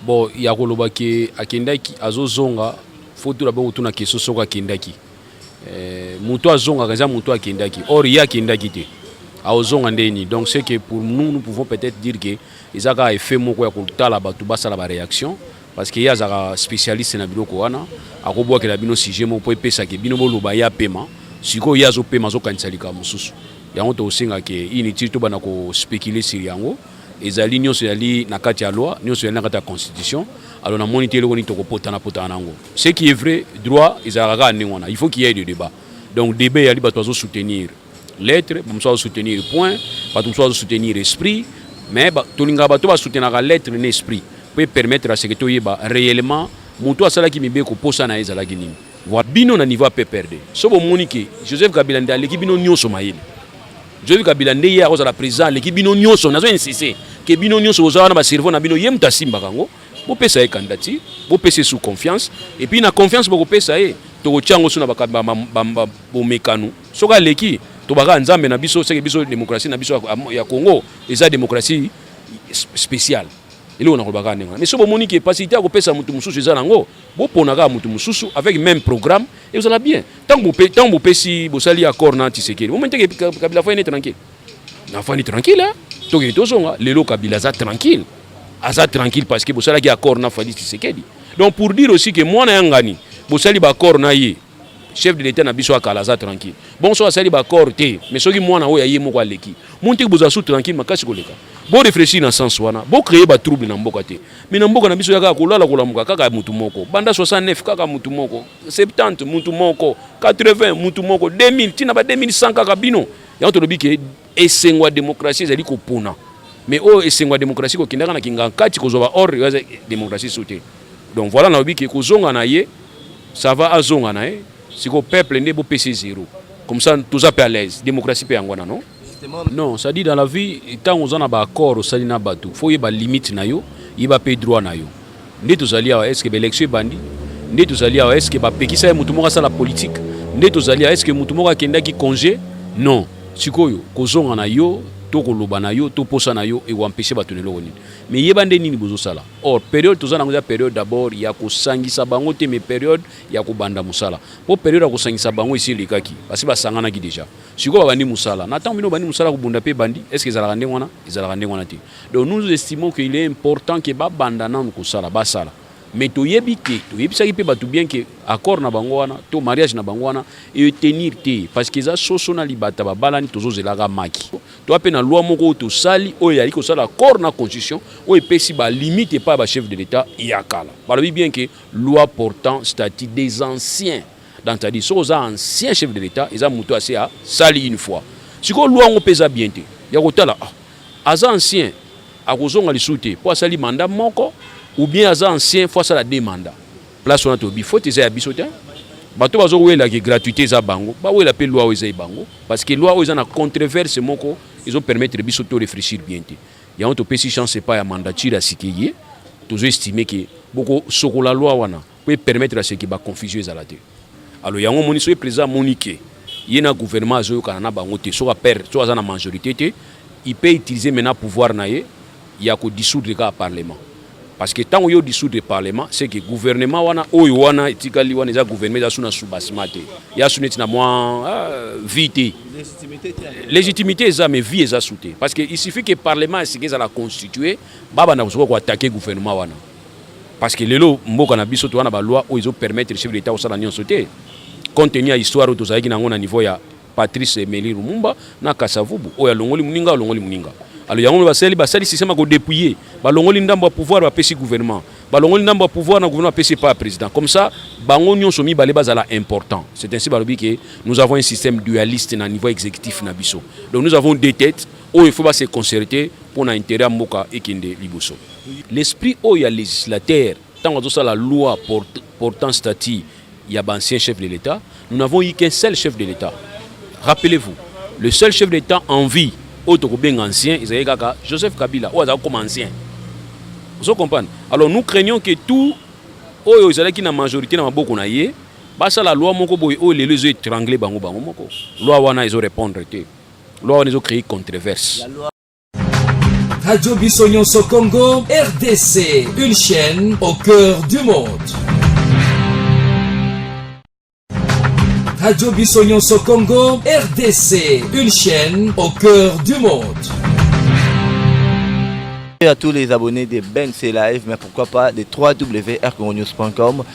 Bon ya koloba ke akendaki azozonga faut tout d'abord otuna question soko akendaki eh, mutu azongaka eza mutu akendaki or ye akendaki te aozonga nde nini donc c'est que pour nous nous pouvons peut-être dire que eza kaka effet moko ya kotala bato basala ba réaction parce que ye azalaka spécialiste na biloko wana akobwakela bino sujet moko mpo epesake bino boloba ye apema sikoyo ye azopema azokanisa likambo mosusu yango tokosenga ke inutile tobanda kospécule sur yango ezali nyonso yali na kati ya loi nyonso yali na kati ya constitution alors namoni te eloko nini tokopotana potana nango ce qui est vrai droit ezalaka kaka ndenge wana il faut qu'il y ait de débat donc débat yali bato bazo soutenir lettre bamosusu bazo soutenir point bato mosusu bazo soutenir esprit mais ba, tolingaka bato basoutenaka lettre na esprit mpo epermettre aseke toyeba réellement moto asalaki mibeko mposa na ye ezalaki nini voilà bino na niveau ya pprd so bomoni ke joseph kabila nde aleki bino nyonso mayele Joseph Kabila nde ye akozala president aleki bino nyonso, nazo insiste ke bino nyonso boza wana ba cerveau na bino, ye moto asimbaka yango. Bopesa ye candidature, bopesa ye sous confiance, et puis na confiance bokopesa ye tokotya yango suna bomekano soki aleki tobaka nzambe na biso seke biso demokrasi na biso ya Congo eza demokrasi speciale eloko na kolobaka ndenge wana mais so bomoni ke pasite ya kopesa moto mosusu eza nango Bopona kaka mutu mususu avec meme programme et ozala bien. Tango pe tango bopesi bosali accord na Tshisekedi. Bomoni te Kabila afandi tranquille. Na afandi tranquille. Hein? Toke tozonga lelo Kabila aza tranquille. Aza tranquille parce que bosalaki accord na Fadi Tshisekedi. Donc pour dire aussi que mwana ya ngani bosali ba accord na ye chef de l'etat na biso ya kala aza tranquille bongo soki asali baaccord te mais soki mwana oyo aye moko aleki montiki bozala su tranquille makasi koleka bo réfléchir na sens wana bo créer ba trouble na mboka te mais na mboka na biso ya kaka kolala kolamuka kaka mutu moko banda 69 kaka mutu moko 70 mutu moko 80 mutu moko 2000 tina ba 2100 kaka bino yango tolobi ke Esengo ya demokrasi ezali kopona mais oyo esengo ya demokrasi kokendaka na kingankati kozwa ba ordre oyo demokrasi su te donc voilà nalobi ke kozonga na ye ça va azonga na ye sikoyo peuple nde bopesi zero comme ça toza mpe à l'aise demokrasi mpe yango wana non non ça dit dans la vie ntango oza na baaccord osali na bato fo oyeba limite na yo yeba mpe droit na yo Nde tozali awa eske ba election ebandi nde tozali awa eske bapekisa ye moto moko asala politike nde tozali awa eske moto moko akendaki congé non sikoyo kozonga na yo to koloba na yo to posa na yo ekoampeshe bato na eloko nini me yeba nde nini bozosala or periode toza nango eza periode d'abord ya kosangisa bango te me periode ya kobanda mosala mpo periode ya kosangisa bango esi elekaki basi basanganaki deja sikoyo babandi mosala na ntango bino obandi mosala kobunda mpe ebandi eske ezalaka ndenge wana ezalaka ndenge wana te Donc nous estimons qu'il est important que ba banda nanu kosala basala mais toyebi te toyebisaki mpe bato bien que accord na bango wana to mariage na bango wana etenir te parce que eza soso na libata babalani tozozelaka maki toa mpe na loi moko oyo tosali oyo eyali kosala accord na constitution oyo epesi balimite epai ya bachef de l'état ya kala balobi bien que loi portant statut des anciens donc cetadi soki oza ancien chef de l'état eza moto ase asali une fois sikoyo loi yango mpe eza bien te ya kotala ah, Aza ancien akozonga lisusu te po asali mandat moko ou bien aza ancien faut asala deux mandats. Place wana tolobi faute eza ya biso te. Bato bazo wela ke gratuite eza bango ba wela pe loi oyo eza ebango parce que loi oyo eza na contreverse moko ezo permettre biso to reflechir bien te. Yango topesi chance epai ya mandature ya sikeye tozo estime ke boko sokola loi wana. po e permettre à ce que ba confusion ezala te alors yango omoni soki président amoni que ye na gouvernement azoyokana na bango te soki apere soki aza na majorité te il peut utiliser maintenant pouvoir na ye ya ko dissoudre kaka parlement parce que ntango yo dissoudre parlement c'est que gouvernement wana oyo wana etikali wana eza gouvernement eza su na soubassement te ya su neti na mwa ah, vie te légitimité eza mais vie eza su te parce que il suffit que parlement esika ezala constitue babanda kosuka koattaquer gouvernement wana parce que lelo mboka na biso toza na ba loi oyo ezo permettre chef d'etat kosala nyonso te compte tenu ya histoire oyo tozalaki nango na niveau ya Patrice Emery Lumumba na Kasavubu oyo alongoli muninga alongoli muninga alo yango basali basali système ko dépouiller balongoli ndambo ya pouvoir bapesi gouvernement balongoli ndambo ya pouvoir na gouvernement apesi epai ya président comme ça bango nyonso mibale bazala important c'est ainsi balobi ke nous avons un système dualiste na niveau exécutif na biso donc nous avons deux têtes Oyo il faut ba se concerter pona interet ya mboka ekende liboso. L'esprit oyo ya legislateur tango azo sala loi portant statut ya ba anciens chefs de l'Etat, nous n'avons eu qu'un seul chef de l'Etat. Rappelez-vous, le seul chef de l'Etat en vie oyo toko benga ancien ezalaki kaka Joseph Kabila oyo azalaki koma ancien. Ozo comprendre? Alors nous craignons que tout oyo ezalaki na majorite na maboko na ye basala loi moko boye oyo lelo ezo etrangler bango bango moko. Loi wana ezo repondre te. Loi wana ezo créer controverse. Radio Biso Nyonso Congo, RDC, une chaîne au cœur du monde. Radio Biso Nyonso Congo, RDC, une chaîne au cœur du monde. à tous les abonnés de Ben Live, mais pourquoi pas de www.rcongonews.com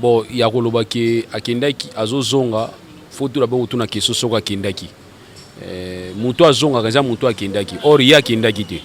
Bon, ya koloba ke akendaki azozonga faut tout d'abord otuna question soko akendaki eh, moto azongaka eza moto akendaki or ye akendaki te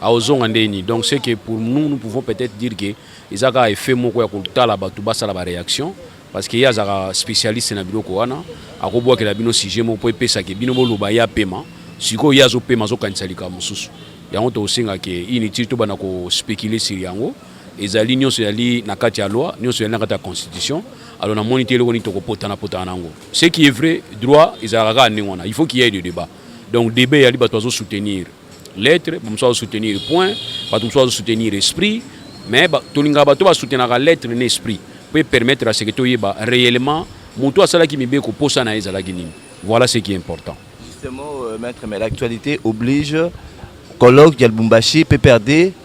aozonga nde nini donc c'est que pour nous nous pouvons peut-être dire que eza kaka effet moko ya kotala bato basala baréaction parce que ye azalaka spécialiste na biloko wana akobwakela bino sujet moko mpo epesake bino boloba ye apema sikoyo ye azopema azokanisa likambo mosusu yango tokosenga ke inutile tobanda kospécule sur yango ezali nyonso yali na kati ya loi nyonso yali na kati ya constitution alors namoni te eloko nini tokopotana potana nango ce qui est vrai droit ezalaka kaka ndenge wana il faut qu'il y ait de débat donc débat yali bato bazo soutenir lettre bamosusu bazo soutenir point bato mosusu bazo soutenir esprit mais ba, tolingaka bato basoutenaka lettre na esprit mpo epermettre aseke toyeba réellement moto asalaki mibeko mposa na ye ezalaki nini voilà ce qui est important justement euh, maître mais l'actualité oblige colloque ya lubumbashi pprd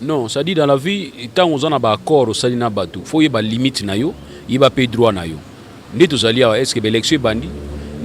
Non, ça dit dans la vie, tant oza na ba accords osali na batu, faut yeba limite na yo, yeba pe droit na yo. Nde tozali awa, est-ce que ba election ebandi?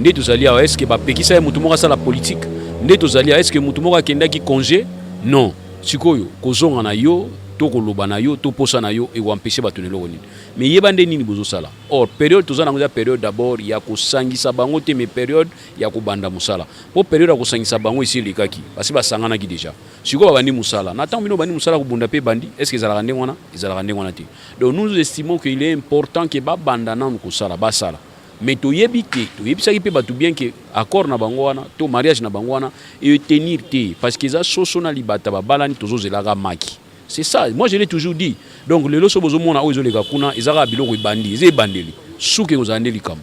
Nde tozali awa, est-ce que ba pekisa ye mutu moko asala politique? Nde tozali awa, est-ce que mutu moko akendaki conge? Non. Sikoyo kozonga na yo to koloba na yo to posa na yo eko empecher batu na eloko nini? Mais yeba nde nini bozo sala. Or periode toza na yango eza periode d'abord ya kosangisa bango te mais periode ya kobanda musala. Po periode ya kosangisa bango esi elekaki, basi basanganaki dejà. sikoyo babandi mosala na ntango bino obandi mosala kobunda mpe ebandi est ce que ezalaka ndenge wana ezalaka ndenge wana te donc nous nous estimons que il est important que babanda nanu kosala basala mais toyebi te toyebisaki mpe bato bien que accord na bango wana to mariage na bango wana etenir te parce que eza soso na libata babalani tozozelaka maki c'est ça moi je l'ai toujours dit donc lelo so bozomona oyo ezoleka kuna ezaka biloko ebandi eza ebandeli suka ekozala nde likambo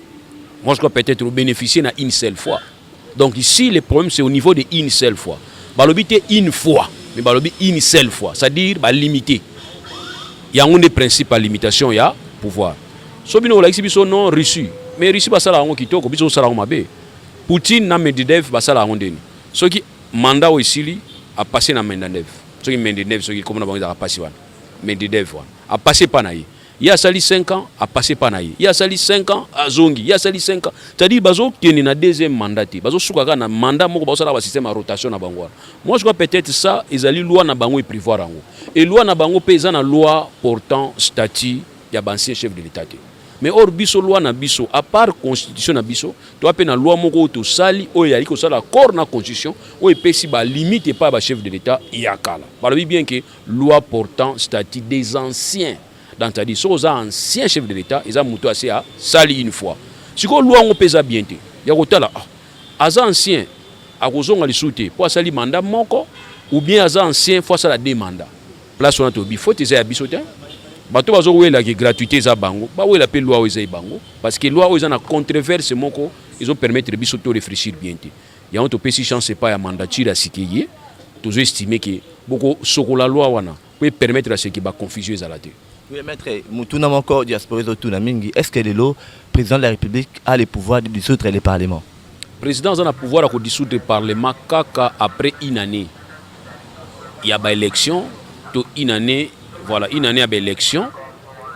Moi, je crois peut-être vous bénéficiez na une seule fois. Donc ici, le problème, c'est au niveau de une seule fois. Balobi te une fois, mais balobi une seule fois. C'est-à-dire, bah, limité. Il y a un des principes à limitation, il y a pouvoir. So bino olakisi biso non Russie. Mais Russie basala yango kitoko, biso osala yango mabe. Poutine na Medvedev basala yango ndeni. Soki mandat oyo esili a passer na Medvedev. Soki Medvedev soki komona bango ezaka pasi wana. Medvedev wana. A passer pa na ye. ye asali 5 ans apasse epa na ye ye asali 5 ans azongi ye asali 5 ans c'est-à-dire bazokende na deuxième mandat te bazosuka kaka na mandat moko baosalaka basystème ya rotation na bango wana moi je crois peut-être ça ezali loi na bango eprivoir yango e loi na bango mpe eza na loi portant statut ya baancien chef de l'état te mais or biso loi na biso à part constitution na biso toa mpe na loi moko oyo tosali oyo eyali kosala accord na constitution oyo epesi balimite epai ya bachef de l'état ya kala balobi bien ke Loi portant statut des anciens dans ta dit soki oza ancien chef de l'etat eza moto ase asali une fois sikoyo loi yango mpe eza bien te ya kotala ah, aza ancien akozonga lisusu te mpo asali manda moko ou bien aza ancien fo asala de manda place wana tobi faute eza ya biso te bato bazowela ke gratuité eza bango bawela mpe loi oyo eza ye bango parce que loi oyo eza na contreverse moko ezopermettre biso to réfléchir bien te Yango topesi chance epai ya mandature ya sika eye, tozo estime ke boko sokola loi wana po e permettre à ce que ba confusion ezala te. Oui, maître, motuna moko diaspora ezotuna mingi, est-ce que lelo président de la République a le pouvoir de dissoudre le parlement? Président aza na pouvoir ya ko dissoudre parlement kaka après une année ya ba élections to une année voilà une année ya ba élections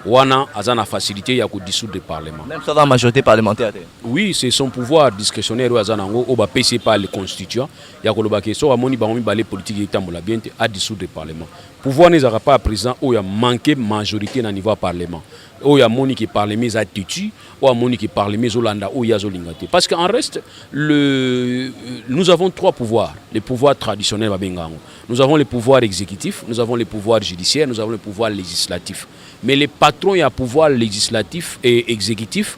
wana aza na facilité ya ko dissoudre parlement. Même sans majorité parlementaire te. Oui, c'est son pouvoir discrétionnaire oyo aza nango oyo bapesi ye par le constituant ya koloba ke soki amoni bango mibale politique etambola bien te a dissoudre parlement pouvoir na ezalaka par président oyo amanke majorité na niveau ya parlement oyo amoni ke parlement eza têtu oyo amoni ke parlement ezolanda oyo ye azolinga te parce que en reste le... nous avons trois pouvoirs le pouvoir traditionnel babenga yango nous avons le pouvoir exécutif nous avons le pouvoir judiciaire nous avons le pouvoir législatif mais le patron ya pouvoir législatif et exécutif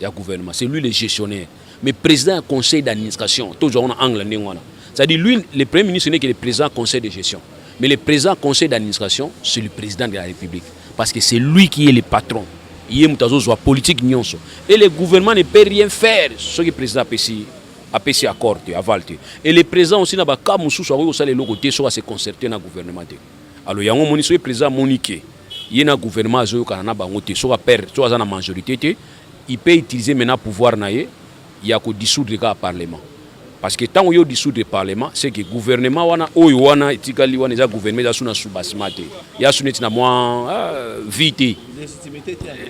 ya gouvernement c'est lui le gestionnaire mais président ya conseil d'administration tozwa wana angle ndenge wana c'est-à-dire lui le premier ministre n'est que le président conseil de gestion mais le président conseil d'administration c'est le président de la république parce que c'est lui qui est le patron ye moto azozwa politique nyonso et le gouvernement ne peut rien faire soki président apesi apesi accord te aval te et le président aussi na bakaa mosusu akoki kosala eloko te soki ase concerte na gouvernement te alors yango omoni soki président amoni ke ye na gouvernement azoyokana na bango te soki aperdre soki aza na majorité te il peut utiliser maintenant pouvoir na ye ya kodissoudre kaka parlement parce que ntango yo dissoudre parlement c'est que gouvernement wana oyo wana etikali wana eza gouvernement eza su na soubassement te ya su neti na mwa ah, vie te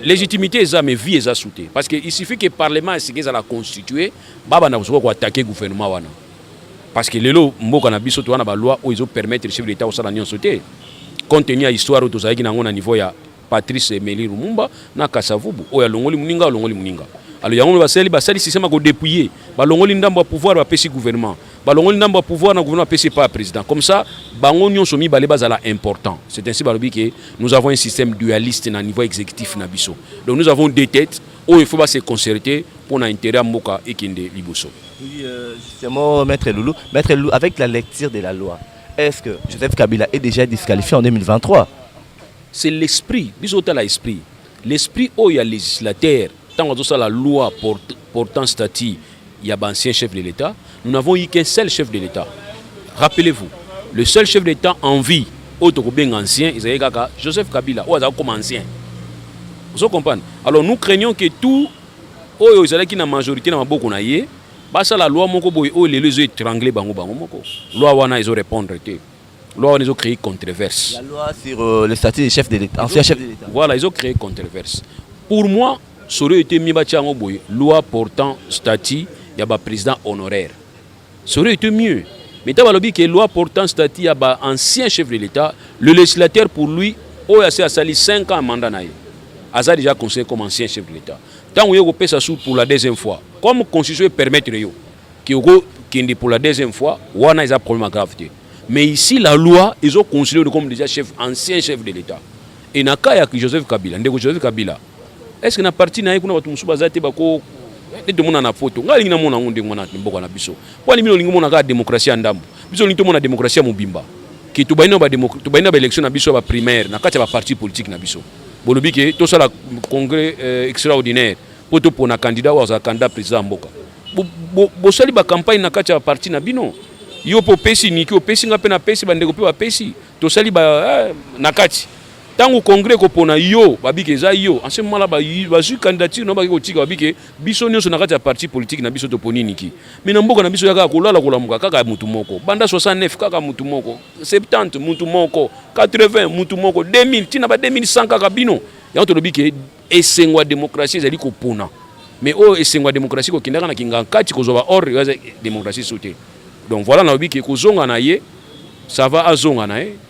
légitimité eza mais vie eza su te parce que il suffit que parlement esika ezala constitue babanda kosuka koattaquer gouvernement wana parce que lelo mboka na biso toza na ba loi oyo ezo permettre chef d'etat kosala nyonso te compte tenu ya histoire oyo tozalaki nango na niveau ya Patrice Emery Lumumba na Kasavubu oyo alongoli muninga alongoli muninga alo yango basali basali système ko dépouiller balongoli ndambo ya pouvoir bapesi gouvernement balongoli ndambo ya pouvoir na gouvernement apesi epai ya président comme ça bango nyonso mibale bazala important c'est ainsi balobi ke nous avons un système dualiste na niveau exécutif na biso donc nous avons deux têtes Oyo il faut ba se concerter pour na intérêt ya mboka ekende liboso. Oui, euh, justement, Maître Loulou, Maître Loulou, avec la lecture de la loi, est-ce que Joseph Kabila est déjà disqualifié en 2023 C'est l'esprit, biso tala esprit. L'esprit oyo ya législataire, ntango azosala loi port- portant statut ya ba anciens chefs de l'Etat, nous n'avons eu qu'un seul chef de l'Etat. Rappelez-vous, le seul chef de l'Etat en vie oyo tokobenga ancien ezalaki kaka Joseph Kabila oyo azalaki comme ancien. Vous comprenez? Alors nous craignons que tout oyo ezalaki na majorité na maboko na ye basala loi moko boye oyo lelo ezo étrangler bango bango moko. Loi wana ezo répondre te. Loi wana ezo créer controverse. La loi sur euh, le statut du chef de l'État, ancien chef de l'État. Voilà, ezo créer controverse. Pour moi, Solo ete mieux batia yango boye loi portant statut ya ba président honoraire. Solo ete mieux. Mais ta balobi ke loi portant statut ya ba ancien chef de l'État, le législateur pour lui oyo ase asali 5 ans mandat na ye aza déjà conseiller comme ancien chef de l'État. Tango yo kopesa sous pour la deuxième fois, comme constitution e permettre yo ke oko kende pour la deuxième fois, wana eza problème grave te. Mais ici la loi ezo considérer comme déjà chef ancien chef de l'État. Et na cas ya Joseph Kabila, ndeko Joseph Kabila Est-ce que na parti na ye kuna bato mosusu baza te bako nde tomona na poto ngai alingi namona yango ndenge wana mboka na biso mpo ani bino olingi mona kaka demokrasi ya ndambo biso olingi tomona demokrasi ya mobimba ke tobandi na baélection na biso ya baprimaire na kati ya baparti politique na biso bolobi ke tosala congrès euh, extraordinaire mpo topona candidat oyo azala candidat président ya mboka bosali bacampagne na kati ya baparti na bino yo mpe opesi niki opesi ngai mpe napesi bandeko mpe bapesi tosali eh, na kati Tango congrès ekopona yo babike eza yo en ce moment là bazwi candidature na bake kotika babike biso nyonso na kati ya parti politique na biso toponi niki mais na mboka na biso ya kaka kolala kolamuka kaka mutu moko banda 69 kaka mutu moko 70 mutu moko 80 mutu moko 2000 tina ba 2100 kaka bino yango tolobi ke esengo ya demokrasi ezali kopona mais oyo esengo ya demokrasi kokendaka na kingankati kozwa ba ordre eza demokrasi so te donc voilà nalobi ke kozonga na ye sava azonga na ye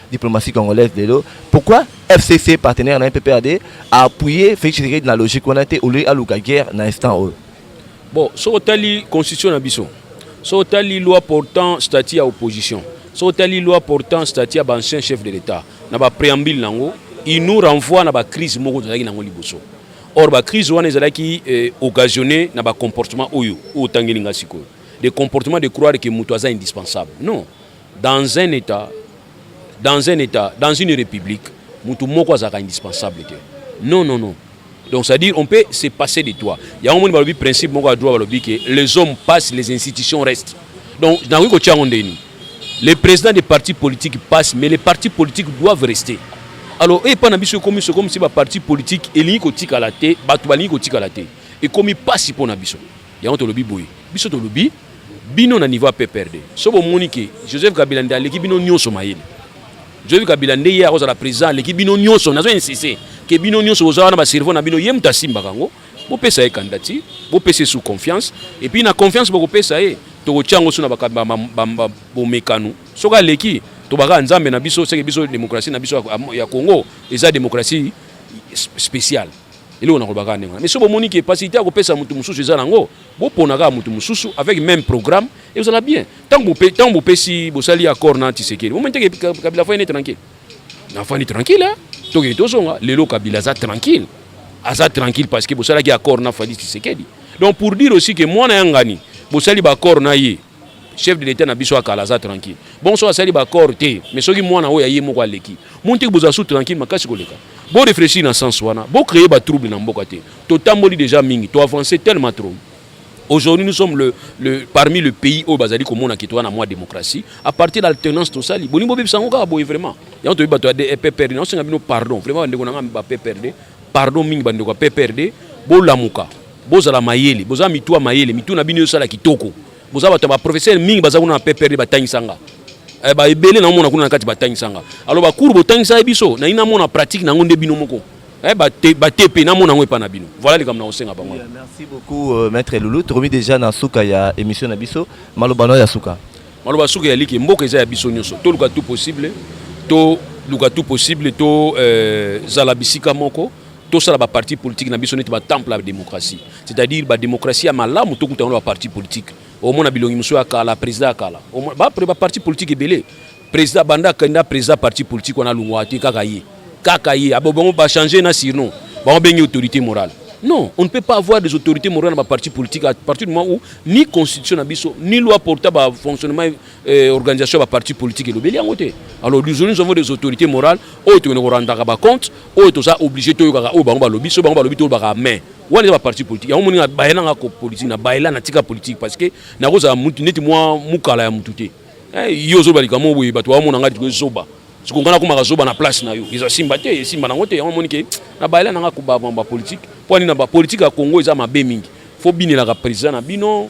diplomatie congolaise lelo pourquoi fcc partenaire na mppad a appuyé félix tshisekedi na logique wana te olei aluka guerre na instant oyo bon soki otali constitution na biso soki otali loi portant statut ya opposition soki otali loi portant statut ya baancien chef de l'état na bapréambule na yango il nous renvoie na bacrise moko tozalaki na yango liboso or bacrise wana ezalaki eh, occasionne na bacomportement oyo oyo otangeli ngai sikoyo de comportement de croire ke moto aza indispensable non Dans un etat, dans un etat, dans une république, mutu moko azalaka indispensable te. Non non non. Donc ça dire on peut se passer de toi. Il y a un monde balobi principe moko ya droit balobi que les hommes passent, les institutions restent. Donc nakoki ko tiango ndeni. Les présidents des partis politiques passent mais les partis politiques doivent rester. Alors et pas na biso comme ce comme si ba partis politiques elingi ko tikala te, batu balingi ko tikala te. Et comme passe pour na biso. Yango tolobi boye, biso tolobi bino na niveau ya PPRD, so bomoni ke Joseph Kabila nde aleki bino nionso mayele, Joseph Kabila nde ye akozala president aleki bino nionso, nazo insiste ke bino nionso boza wana ba cerveau na bino ye mutu asimbaka yango, bopesa ye candidature, bopesa ye sous confiance, et puis na confiance bokopesa ye tokotia yango sous na ba bomekano, soki aleki tobaka ya nzambe na biso, seke biso democratie na biso ya Congo eza democratie speciale. eloko nakoloba kaka ndenge wana mais soki bomoni ke pasite ya kopesa motu mosusu eza nango bopona kaka motu mosusu avec même programme ekozala bien ntango ntango bopesi bosali accord na tisekeli bomoni teke kabila afandi tranquille nafandi tranquille eh? tokende tozonga lelo kabila aza tranquille aza tranquille parce que bosalaki accord na fali tisekeli donc pour dire aussi ke mwana ya ngani bosali baaccord na ye chef de l'etat na biso ya kala aza tranquille bongo soki asali baaccord te mais soki mwana oyo aye moko aleki montiki bozala su tranquille makasi koleka bo réfléchir na sens wana bo créer batrouble na mboka te totamboli déjà mingi to avance tellement trop Aujourd'hui, nous sommes le, le, parmi le pays où Bazali Komona qui tourne à moins démocratie. À partir de l'alternance, tout ça, Boni Bobi Sangoka, boy, vraiment. Il y a un truc, des PPRD, non, c'est un pardon. Vraiment, on a un PPRD. Pardon, ming, bande, PPRD. Bolamuka. Bozala mayele, boza mitu ya mayele, mitu na bino esala kitoko. Boza bato ya ba professeur mingi baza kuna na PPRD batangisa nga. Eh, ba ebele na mona kuna na kati batangisa nga. Alors ba cours botangisa biso, na ina mona pratique na ngo nde bino moko. Eh, ba te, ba tepe na mona ngo epa na bino. Voilà likambo na kosenga bango. Oui, merci beaucoup euh, maître Loulou. Tokomi déjà na suka ya émission na biso. Maloba na ya suka. Maloba suka ya liki mboka eza ya biso nyoso. To luka tout possible, to luka tout possible, to euh, zala bisika moko. tosala ba parti politique na biso neti ba temple ya démocratie c'est-à-dire ba démocratie ya malamu tokuta yango na ba parti politique omona bilongi mosusu ya kala président ya kala bapre ba parti politique ebele président banda kenda président parti politique wana alongwa te kaka ye kaka ye abo bango bachange na surnom bango bengi autorité morale non on ne peut pas avoir des autorités morales na ba parti politique à partir du moment où ni constitution na biso ni loi porta ba fonctionnement eh, organisation ya baparti politique elobeli yango te alors disons nous avons des autorités morales oyo tokende korandaka bacompte oyo toza obligé toyokaka oyo bango balobi so bango balobi tolobaka main wana eza baparti politique yango moninga bayela nga ko politique na bayela na tika politique parce que nakozala mutu neti mwa mukala ya mutu te eh, yo ozoba likambo boye bato bamona ngai tikoki zoba soko ngai nakomaka zoba na place na yo eza simba te esimba nango te yango omoni ke na bayela na nga kobama bapolitike mpo ani na bapolitike ya congo eza mabe mingi fo binelaka président na bino